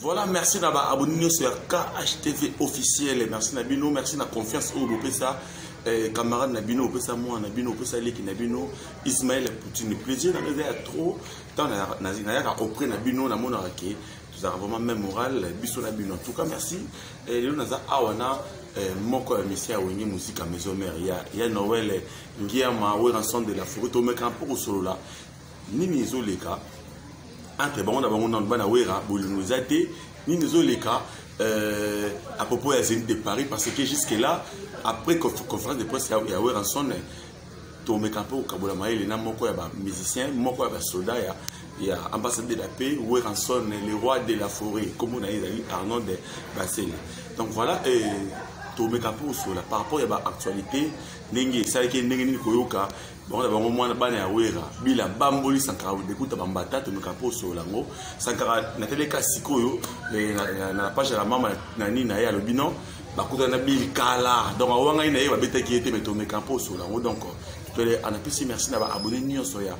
Voilà, merci na ba abonné nyoso ya KHTV officiel. Merci na bino, merci na confiance oyo bopesa eh, camarade na bino, bopesa moi na bino, bopesa leki na bino, Ismaël Poutine. Plaisir na ngai ya trop tant na na na ya auprès na bino na mona ke tozalaka vraiment même moral biso na bino. En tout cas, merci. Eh, lelo naza awa na eh, moko ya misi ya wenge muzika maison mère ya, ya noel ngiama weranson de la forêt tomekana mpo kosolola nini ezoleka entre bango na bango nanu bana wera bolingo eza te nini ezoleka euh, à propos ya zénith de paris parce que jusque là après conférence de presse ya weranson tomeka mpe kokabola mayele na moko ya bamusicien moko ya basoda ya ya ambassade de la paix weranson le roi de la forêt nkombo na ye ezali arnold basele donc voilà euh, tomeka mpe kosola par rapport ya baactualité ndenge esalaki ndenge nini koyoka bango na bango mwana bana ya wera bila bamboli sankara dekuta bambata tomeka mpo osolola yango sankara nateleka sikoyo eh, na page ya mama na nini na ye alobi non bakutana na bili kala donc awangani na ye babetaki ye te me tomeka mpo osolola yango donc tole anapesi merci na baabone nyonso ya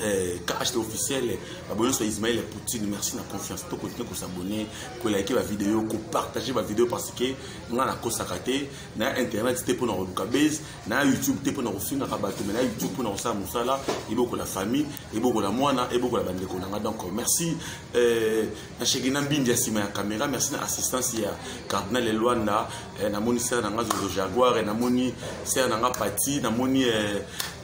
Eh, KHT officiel baboyo nyonso ya Ismaël Poutine merci na confiance to continue ko s'abonner ko liker ba vidéo ko partager ba vidéo parce que nga na kosaka te na internet te pona koluka base na YouTube te pona kofingaka bato mais na YouTube pona kosala mosala ebokola famille ebokola mwana ebokola bandeko na nga donc merci eh, na shege na mbindi ya nsima ya caméra merci na assistance ya cardinal Elwanda Eh, namoni sere na nga zozo jaguar eh, namoni sere na nga pati namoni eh,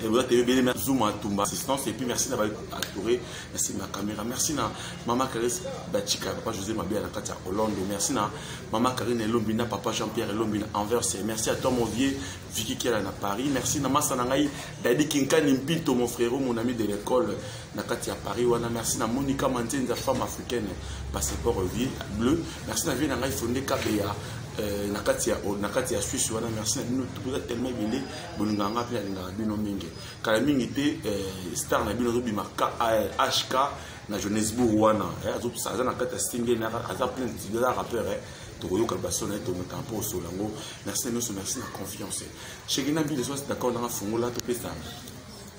oza te ebele zuma atumba assistance epuis merci na baactoure merci na caméra merci na mama carese bachika papa josé mabea na kati ya hollande merci na mama carine elombi na papa jean pierre elombi na anvers merci à toi mon vieux viki kela na paris merci na masa na ngai dadi kinkani mpinto mon frérot mon ami de l'école na kati ya paris wana merci na monika manzenza femme africaine passeport vie bleu merci na vie na ngai fonde kabeya euh, na kati ya na kati ya suisse wana merci na bino boza tellement ebele bolingaka nga mpe nalingaka bino mingi kala mingi te euh, star na bino azobima hk euh, na johannesbourg wana aza na kati ya stinge aza plein aza rappeur tokoyoka baso na ye tomeka mpo osola yango merci na nyonso merci na confiance shekina bileso d'accord nanga fungola topesa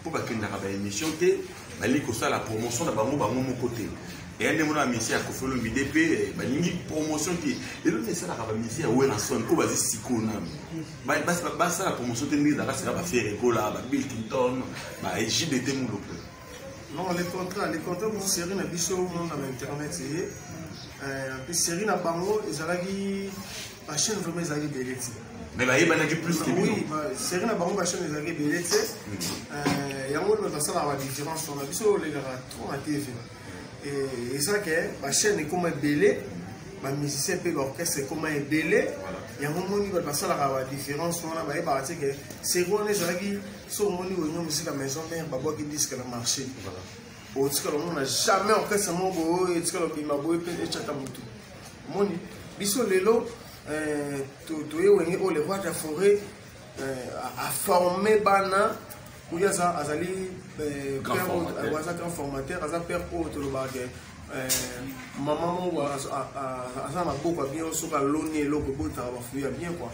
mpo bakendaka ba émission te balingi kosala promotion na bango bango moko te eya nde mona bamisie ya kofelo mide mpe eh, balingi promotion te lelo nde esalaka bamisie ya werason oyo bazi sikoyo nanu basala promotion te ndenge ezalaka sika bafere ekola babill clinton bajbt moloko non le contrat le contrat mo série na biso mona na internet eye eh, mpe série na bango ezalaki ba chaîne vraiment ezalaki ebele ti mais bayebanaki plus ke bino seri na bango ba chaîne ezalaki ebele ti yango oyo basalaka ba différence wana biso olekaka trop na tv eza ke ba chaîne ekoma ebele ba musicien mpe ba orchestre ekoma ebele yango omoni bato basalaka ba différence wana bayebaka ti ke seri wana ezalaki so omoni wenyo mosika maison mare babwaki disque na marché otikala omona jamais orchestre moko boye etikala obima boye mpe ecata motu omoni biso lelo euh, toye wenge oyo le roi de la forêt euh, aforme bana oyo aza azali euh, aza grand formateur aza père oyo tolobaka ke mama moko aza na maboko ya bien soki aloni eloko ebotaka bafui ya bien kua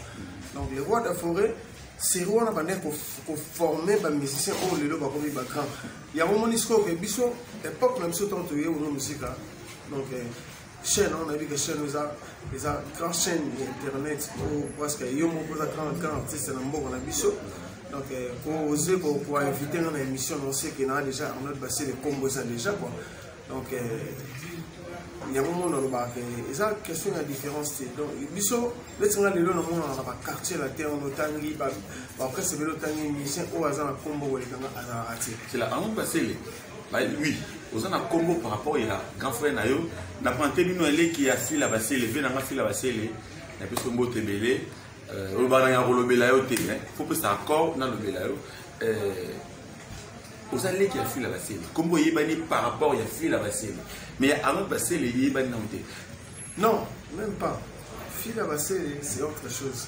donc le roi de la forêt seri wana bandaki koforme bamusicien oyo lelo bakomi bagrand yango omoni sikoyo ke biso epoque na biso ntango toye ono mosika donc chaîne on a dit que chaîne eza eza grand chaîne ya internet po parce que yo moko oza grand grand artiste na mboka na biso donc koose euh, koinvite nga na émission na oseke naa déjà arnold basile kombo eza déjà quoi donc euh, yango ngo nalobaka ke eza question ya différence te donc biso neti nga lelo namonaka na baquartier latin ono otangi bapresse ebele otangi musicien oyo aza na kombo kolekanga azalaka te oui oza na kombo par rapport ya grand frère na yo na prante bino eleki ya fila basele vie nanga fila basele na biso mbote ebele euh, oyo bananga kolobela yo te fo pesa accord nalobela yo euh, oza leki ya fila basele kombo eyebani par rapport ya fila basele mais ya arnold basele eyebani nango te non même pas fila basele c'est autre chose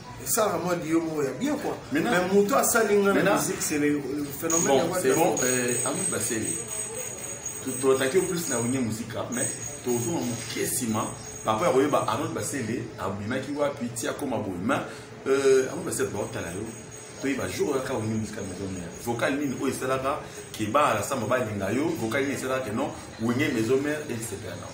esalaka mwa liyo moko ya bien kua mais moto asali nga na musique c'est le phénomène bon c'est bon euh, ami baseli totaki yo plus na wenge musika ah, mais tozonga moke nsima papa ya koyeba arnold basele abimaki wapi ti akoma boye ma euh, arnold basele baotala yo toyeba jour oyaka wenge musika maison mère vocal nini oyo esalaka ke baala samba balinga yo vocal nini esalaka ke non wenge maison mère elisepela nao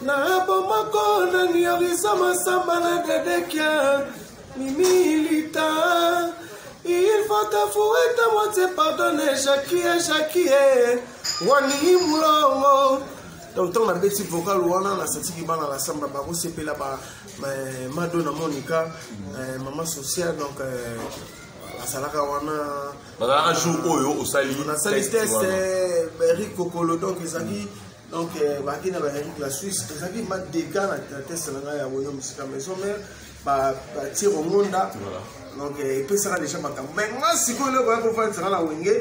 Na bomoko na niorisa masamba na dedekia mimilita il faut t'avouer ta moitié pardonne jakie jakie wani mulongo donc ntango nabeti vocal wana nasatiki bana na samba bakosepela ba mado na monika eh, mama social donc eh, asalaka wana bazalaka jour oyo osali nasali test eh, berikokolo donc ezalaki mm. donc euh, baki na baeric la suisse ezalaki ma dega na teste na ngai ya boyo mosika maison mare batie kongonda donc euh, epesaka deja makambo mai nga sikoyo leo baya kofandisaka na wenge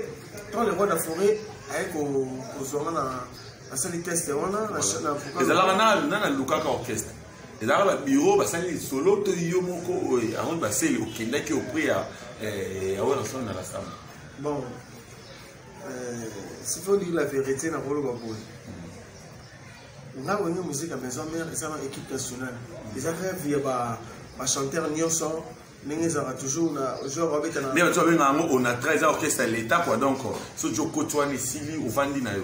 to le roi da forêt aye kozwanga na asali teste wana ezalaka na nalukaka orchestre ezalaka babiro basali lisolo to yo moko oyo yango baseli okendaki auprès ya eh, ya oyo nasolo na la samba bon Euh, si faut dire la vérité na koloba boye ntango olingi muzika maison mare eza na équipe nationale eza rêve ya bachanteur nyonso ndenge ezalaka toujours na genre babetana nde bato babengaka yango onatra eza orchestre ya l'état quoi donc soki okoti wana esili ovandi na yo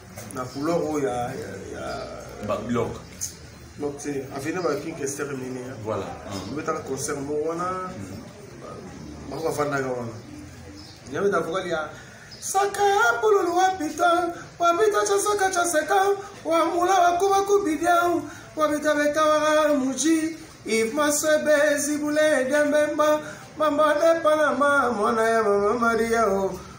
na couleur oyo ya ya babilok donc te aveni ba king kester mini voilà obetaka mm. concert moko wana mm. bango bafandaka wana yabeta vokali ya saka ya pululu wa pita wa pita ca saka ca seka wa mula wa kuba kubidia wa pita betawara muji if masebe zibule dembemba mama de panama mwana ya mama maria o oh.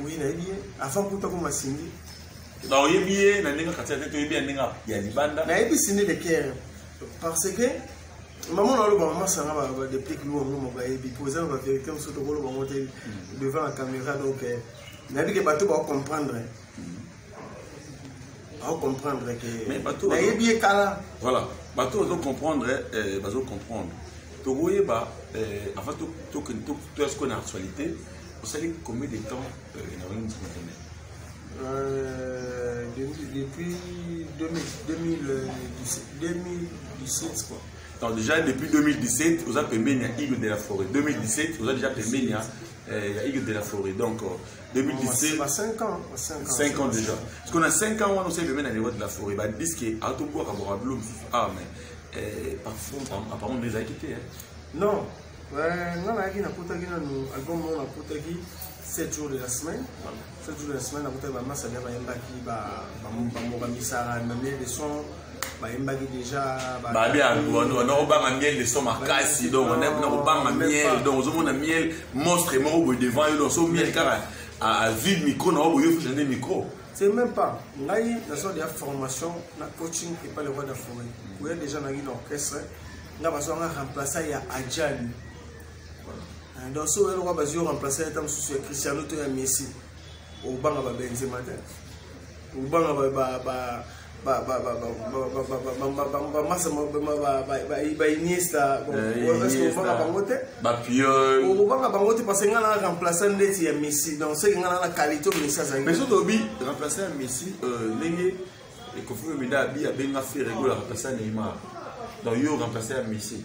Oui, na ye avant kuta ko masingi. Ba oyebi ye na ndenge kati ya tete oyebi ya ndenge ya libanda. Na yebi sinde le cœur parce que maman na loba maman sanga ba ba depuis que loba mo ba yebi pour ça ba vérité on saute ko loba mo te devant la caméra donc na bi ke bato ba comprendre. Mm -hmm. Au comprendre que mais bato nayebi ye kala voilà bato bazo comprendre eh, bazo comprendre tokoyeba eh, avant tokende toya sikoyo na actualité osali combien de temps eh, na wana musique internet Euh, depuis 2017 quoi. Donc déjà depuis 2017, vous avez payé Igor de la forêt. 2017, vous avez déjà payé Igor de la forêt. Donc euh, 2017 ba 5 ans ba 5 ans 5 ans déjà parce qu'on a 5 ans wana osali pembeni na niveau de la forêt ba disque atobwaka bwaka bilo mosusu ah mais eh, parfum apparemment nde ezalaki te non eh, nga nayaki nakotaki nanu album moko nakotaki 7 jours de la semaine 7 jours de la semaine nakotaki bamasa bia bayembaki bamboka misara na mie de son bayembaki deja babi anakobanga miel de so makasi donc nakobanga miel donc ozomona miel monstre moko boye devant yo donc so miel kaka avide micro na yo boye ofisa nde micro c'est même pas ngai naza deya formation na coaching epa le roi d'afrique koya déjà naki na orchestre nga bazwanga remplaça ya ajali ah, donc so oyelokwa bazwi yo remplaça ya ta mosusu ya cristiano to ya messi obanga babenzema te obanga ba, ba, ba bainiesta okobanga bango te okobanga bango te parce ngai na remplaçant ndeti ya messi donc seke ngai na qualité oyo messi azali mais soki obi remplaçant ya messi ndenge ekofi omida abi abenga ferego ya remplaçant neymar donc yo remplaçant ya messi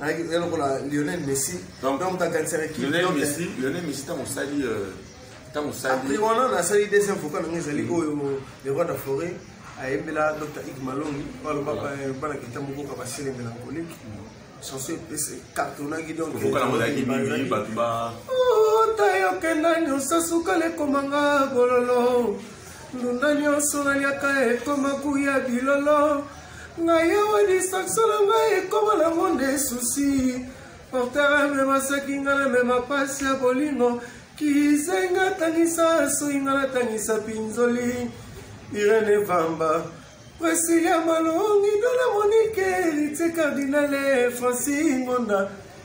alaki oya lokola lionel messi donc moto akanisaka kilionel messi lionel messi ntango osali ntango euh, osali wana nasali deuxième vocal nango ezali mm. oyo le roi de forêt ayembela dr ig malongi oyo alobaka euh, bana kita moko ka baselenge na koliki chanson epesi cartonaki donc ota yokenda nyonso suka lekomanga bololo ndunda nyonso naliaka ekoma kuya bilolo ngai awa distraction na ngai ekoma nango nde susi portere amema saki ngai namema mpasi ya bolingo kizenga atangisa soki ngai natangisa pinzoli irene vamba presilia malongi dona monike ritie cardinale franci ngonda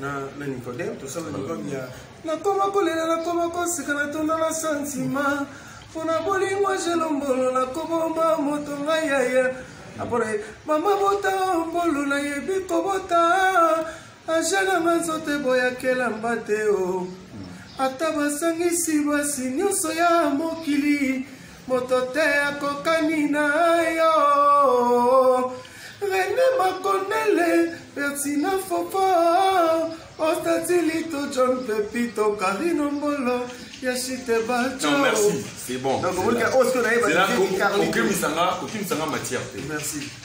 na, na Nicodème tosala Nicodème ya nakoma kolela nakoma koseka natonda na santima mpo na bolingo jelombolo nakobomba moto ngai yaya apona mama bota mbolu nayebi kobota ajalanga nzoto eboyakela mbate o ata basangisi basi nyonso ya mokili moto te akokani na yo rene makonele pertina fopo ostatilito john pepito karino mbolo ya chite bacokokimisanga oh, matière te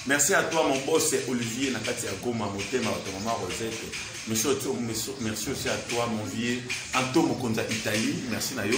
merci à toi mon boss olivier na kati ya goma motema bato mama rosette merci aussi à toi mon vieux anto mokonzi ya italie merci na yo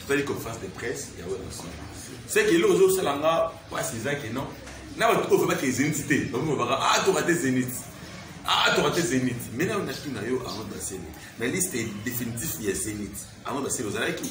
totali conférence de presse ya werrason seke eloko ozosala nga mpasi eza ke non na bato oyo babaki ezeniti te bamoko baka a ah, toka te zeniti ah toka te zenith mais na na tuna yo avant de basele na liste définitif ya zenith avant de basele ozalaki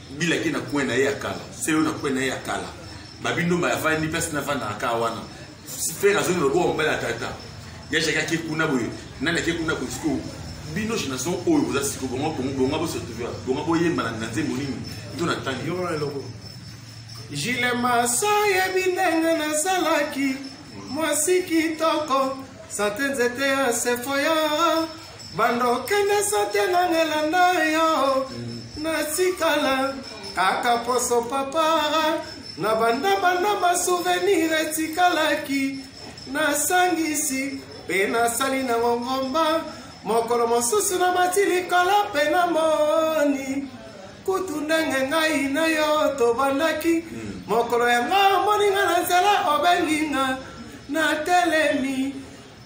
bila ake na coin na ye ya kala selo na coin na ye ya kala babindo mba yavandi place navandaka kaka wana frere azongi lokola mobali ya tata yajaki ake kuna boye nani ake kuna boye sikoyo bino génération oyo boza siko bonga bongo bonga bosotuva bonga boyemba na nzembo nini to na ntangi jile masa yebi ndenge nazalaki mwasi kitoko sante nzete ya sefoya banda okende sote nanga elanda yo natikala kaka poso papa na bandabanda basuvenir etikalaki nasangisi mpe nasali na ngongomba mokolo mosusu na mati likolo mpe na moni kutu ndenge ngai na yo tobandaki hmm. mokolo yango omoni nga na nzela obengi nga natelemi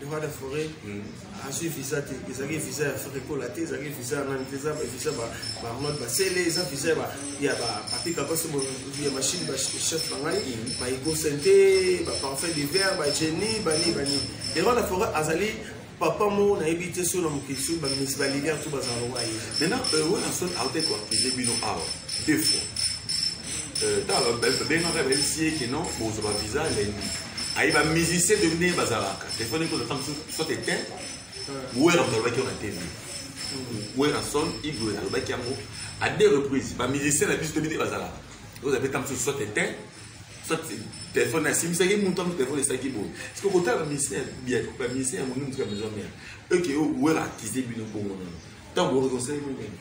le roi de forêt azwi visa te ezalaki visa ya frekola te ezalaki visa ya nani te eza visa baarnold basele eza visa ya bapika basi ya machine bachef na ngai baegosente baparfum d'hiver bageni bani bani le roi de forêt azali papa moko nayebi te soki na mokili soki bamisi balilia to bazala lokola ye maintenant euh, wana soki aute koakize bino awa deux fois euh, bengaka bayebisi ye ke non bozwa bavisa lendi aye ba musicien de nde bazalaka telefone ekoza ntango mosusu soit eteint wera moto alobaki yango na tv werason igwe alobaki yango à deux reprises ba musicien na biso toyebi nde bazalaka ekoza mpe ntango mosusu soit eteint soit telefone asimbisaki moto yango telefone esalaki boye siko kotala bamisien ya monene mosuka maison mare eke wera akize bino bongo nono ntango bokozosali monene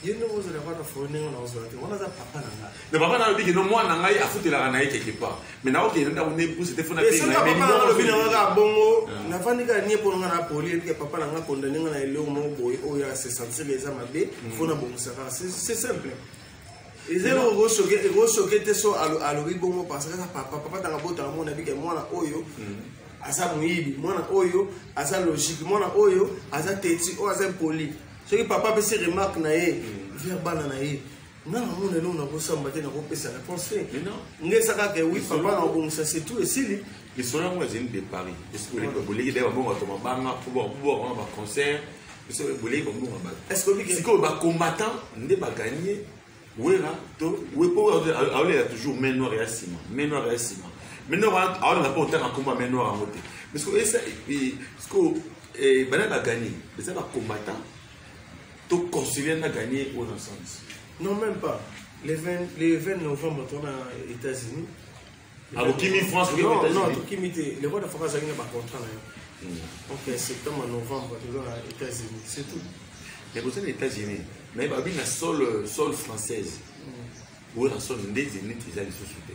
ye ndenge ozela kaka fo ndenge na ozela te wana aza papa na ngai mais papa nalobi kino mwana na ngai afutelaka na ye quelque part mais nakokende ndako nde buse te fona tealobi na ngai kaka bongo ah. nafandi kaka nie mpo na ngai napoli epike papa na ngai akonda ndenge na eloko moko boye oyo asesentir eza mabe fona mm. bongisaka c'est simple eza eloko ekosoke ekosoke te so alobi bongo parce kaka papa papa tanga botanga mona bike mwana oyo mm. aza moyibi mwana oyo aza logique mwana oyo aza teti oyo aza impoli soki papa apesi remarque na ye mm. vers bana na ye nga namona eloko nakosamba te nakopesa réponse te nga esakaka wi papa na obongisa setu esili lisolo yango ezali de paris boleki daya babongo bato mabanga mpo bakuboka wana baconcert biso boleki babongo bato sikoyo bacombattant nde baganie wera to wepo aolela toujours main noire ya nsima main noire ya nsima main noire wana aolela mpo otanga nkombo ya main noire yango te mais sikoyo esa sikoyo bana baganie eza bacombattant to consulia na ganie oyo na sens non même pas le 20 novembre tona états-unis abokimi france okimi te le roi de france azalaki na bacontrat na yo donc hmm. septembre novembre toza na états-unis c'est tout mais boza na états-unis mais babi na sol euh, sol française hmm. oyo na sol nde zenit eza lisusu te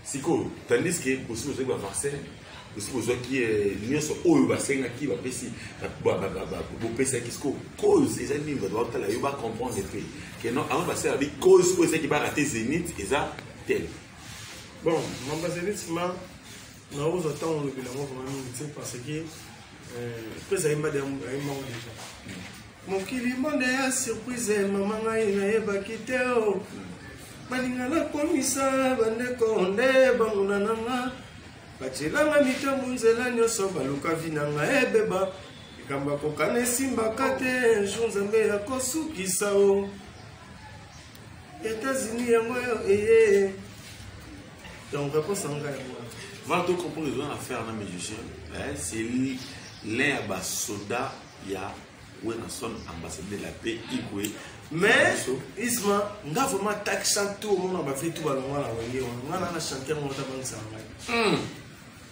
sikoyo tandis ke bosi bozwaki bavaccin bosi bozwaki euh, nyonso oyo basengaki bapesi bopesaki sikoyo cause eza nini bato bakotala yo bacomprendre mpe keno avant basala bi cause oyo ezaki barate zenit eza te bon mambazelisi ma naoza ntango olobi nango vraimen mingi te parce que mpe ezali mbadi ayembango deja mokili monde ya surprise mama ngai nayebaki te o oh. balinga nakomisa bandeko nde banguna na nga batyelanga mitambo nzela nyonso baluka vi na nga ebeba likambo akokana esimbaka te jour nzambe akosukisa o oh. États-Unis yango eye. Donc réponse en gars. Voilà tout comprendre les affaires na musicien. Eh, c'est l'un ya ba soda ya Wenason ambassadeur de la paix Igwe. Mais Isma nga vraiment tak chante tout au monde ba fait tout ba longa na wenge. Nga na chanter mon tabang sa ngai.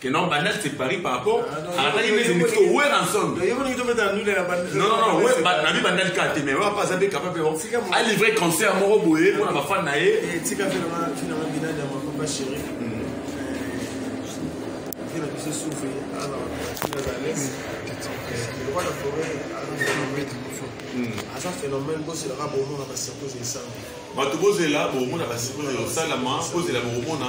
que non banal c'est paris par rapport alataki mese ndiki ko wer ensemble non non non wer na bi banal ka te mais wapa aza mpe capable a livre concert moko boye mpo na bafan na ye aza phénomène bozelaka bomona basirkose esalama bato bozela bomona basirkose esalama bozela bomona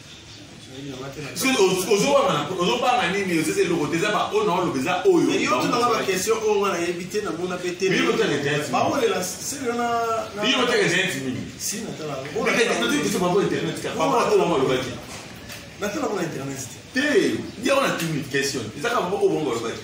ozobanga nini ozeza eloko te eza baoyo na oloba eza oyoyotanga baquestion oyo nga nayebi te namona mpe tebaolela selonaaolobaki natala kuna internet te te yango na timi question ezaka oyo bango balobaki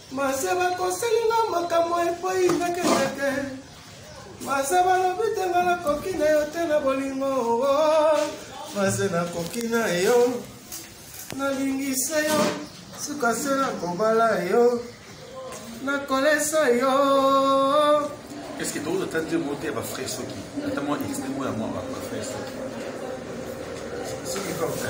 Mase bakoseli nga makambo epai ndekendeke Mase balobi te nga nakoki na yo te na bolingo oh, oh. Mase nakoki na yo nalingi se yo suka se nakobala yo nakolesa yo eske tokoki ata te mote ya bafrai soki ata mwa exte mo ya mwa bafrai soki soki kaka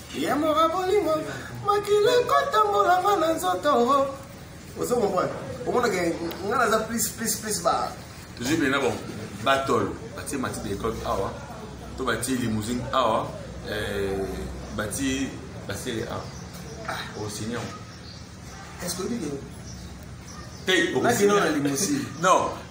yamora bolingo makila ekotambola nga na nzoto ozo comprendre omonaka nga naza plus plus plus ba tozwi bena bon batol batie mati de l'école awa to batie limousine awa eh, batie basele awa ah, osignon est ce que oyebi te okosina na limousine non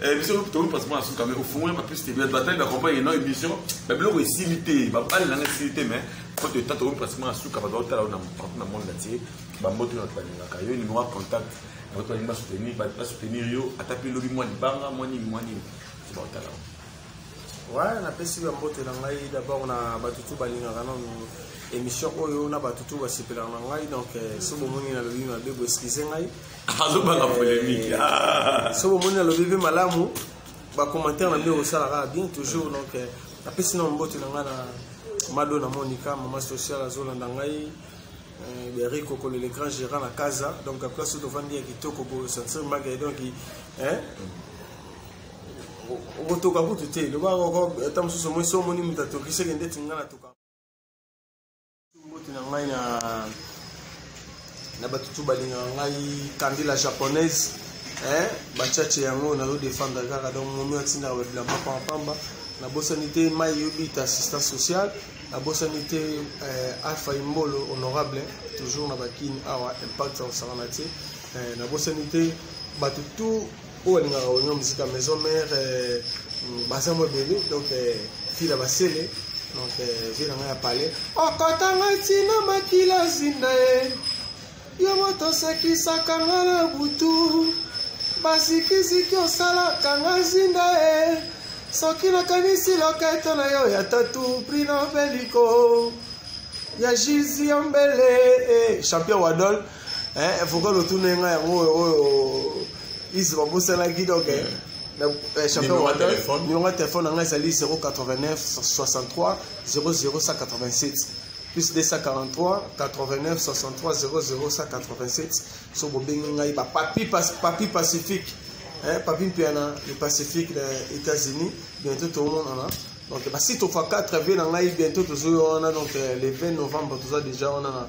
Eh, biso tokomi passeport na suka mais ofungoli bapiste batali bacompagne no émission babiloko esili te babali nanga esili te mais faute de temps tokomi passeport na suka bato baotala na partout na monde atie bamboto na balingaka yo numéro ya contact bato balingi basoutenir basoutenir yo ata mpe lobi mwa libanga mwa nini mwa nini so baotala wa napesi bambote na ngai d'abord na bato tu balingaka nano émission oyo na bato tu basepelaka na ngai donc eh, so bomoni na lobi mabe boeskize ngai azobanga polemique ah. soki omoni alobi mpe malamu bacommentaire na nde osala kaka bien toujours donc euh, apesi na mbote na ngai na mado na monika mama social azolanda ngai euh, beri kokolo le grand gérant na kaza donc place oyo tovandi ya kitoko bosantir mbage donc okotoka kutu te loba ata mosusu omoi so omoni moto atokiseke ndeti ngai natoka mbote na ngai na na bato tu balingaka ngai kandi la japonaise eh, bachache yango nazo defendre kaka donc momi atindaka babilamba pampamba nabosani te mai yobita assistant social nabosani te eh, alpha imbolo honorable toujours na bakini awa impact osangana te eh, nabosani te bato tu oyo alingaka oignon musika maison mère euh, baza mwa ebele donc euh, fila basele donc euh, vie na ngai ya palais okota ngai ntina makila zinda ye yo moto osekisaka ngai na butu bazikiziki osalaka ngai zinda ye soki nakanisi loketo na yo ya tatu prinoveliko ya jizi ya mbele eh, champion wadol eh, vocal otuna nga yango oyo oyo ise babosanaki donc eh, eh, champion numéro ya telefone na ngai ezali 089 63 00187 plus 243 89 63 00187 so bobengi ngai bapapi papi pacifique eh, papi mpiana le pacifique na états-unis bientôt tomonana donc basite ofa 4 vie na ngai bientôt tozoyo wana donc eh, le 20 novembre toza déjà wana na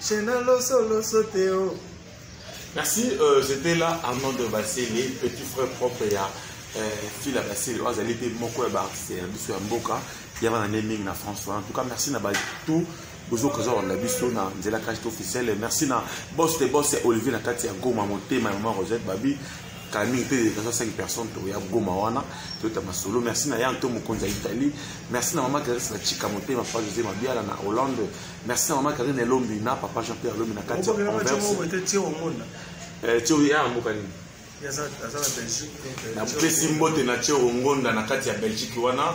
Chena loso loso teo. Oh. Merci, euh, j'étais là Armand de Bassélé, petit frère propre ya euh, Phil Bassélé. Oyo azali mpe moko ya baartiste ya biso ya mboka ya bana nde mingi na France wana. En tout cas, merci na bato bozoka eza kolanda biso na nzela kashte officiel merci na boss de boss ya olivier na kati ya goma motema ya mama rosette babi Camille mpe naza 5 personnes toya goma wana toyota masolo merci na ya nto mokonzi ya italie merci na mama clarisse na chika motema papa josé mabiala na hollande merci na mama karine elombi na papa jean pierre elombi na kati ya tio ya mboka nini napesi mbote na tio ngonda na kati ya belgique wana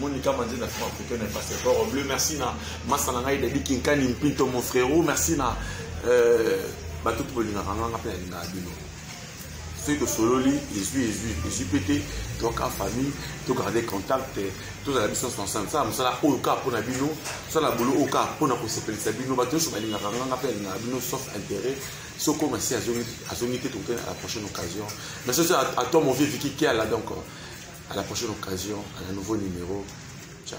monika manze na franc photo na passeport bleu merci na masa na ngai dadi kinkani mpinto mon frérot merci na euh, bato to bolingaka nganga mpe nalingaka bino soki tosololi ezwi ezwi ezwi mpe te toyaka famille togarde contact tozala biso nyonso ensemble sala mosala oyo kaka mpo na bino sala bolo oyo kaka mpo na kosepelisa bino bato nyonso balingaka nganga mpe alingaka bino sauf intérêt soko masi azongi te tokoki à la prochaine occasion mais soki à toi mon vieux viki kiala donc à la prochaine occasion à la nouveau numéro ciao